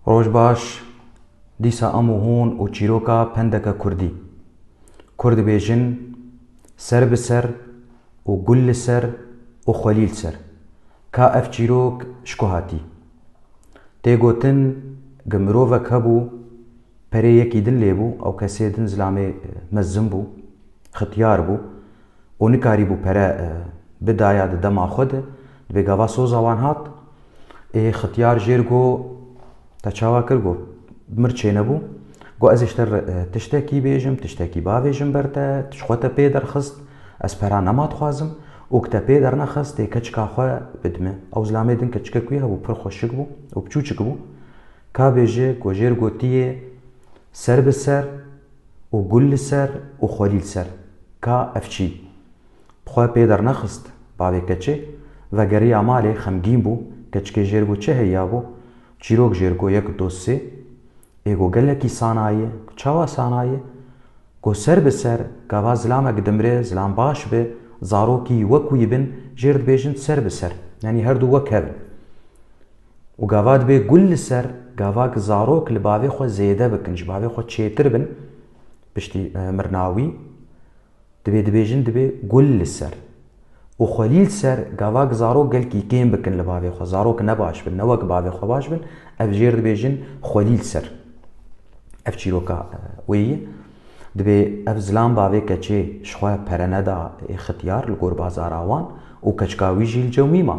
Roj baş, dîsa em û hûn û çîroka pendeke Kurdî. Kur dibêjin, Ser bi ser û gul li ser û xwelî li ser. Ka ev çîrok ji ku hatî? Tê gotin, ge mirovek hebû, Perê yekî din lêbû, ew kesê din zilamê mezin bû, xitiyar bû û nikarîbû pere bidaya di dema xwe de, dibê gava soza wan hat. Ê xitiyar jêr go, te çawa kir go, mir çênebû. Go ez ê ji te re tiştekî bêjim, tiştekî bavêjim ber te, ji xwe te pê derxist, ez pera nema dixwazim û ku te pê dernexist ê keçika xwe bidime. Ew zilamê din keçike ku ye hebû pir xweşik bû û piçûçik bû. Ka bêje ku jêr gotiyê, Ser bi ser û gul li ser û xwelî li ser. Ka ev çî? Bi xwe pê dernexist, bavê keçê, vegeriya malê xemgîn bû, keçikê jêr go çi heyî ya bo? Çîrok jêr go yek do sê, ê go gelekî sana ye, ku çawa sana ye? Go ser bi ser, gava zilamek dimre, zilam baş be, zarokî wek wî bin, jêr dibêjin ser bi ser, yanî herdu wek hev in. Û gava dibe gul li ser gavak zarok li bavê xwe zêde bikin, ji bavê xwe çêtir bin piştî mirina wî. Dibe dibêjin dibe gul li ser. Û xwelî li ser gavak zarok gelkî kêm bikin li bavê xwe. Zarok ne baş bin, ne wek bavê xwe baş bin. Ev jêr dibêjin xwelî li ser. Ev çîroka wê ye. Dibe ev zilam bavê keçê ji xwe pere neda ê xityar li gor bazara wan û keçka wî jî li cewmî ma.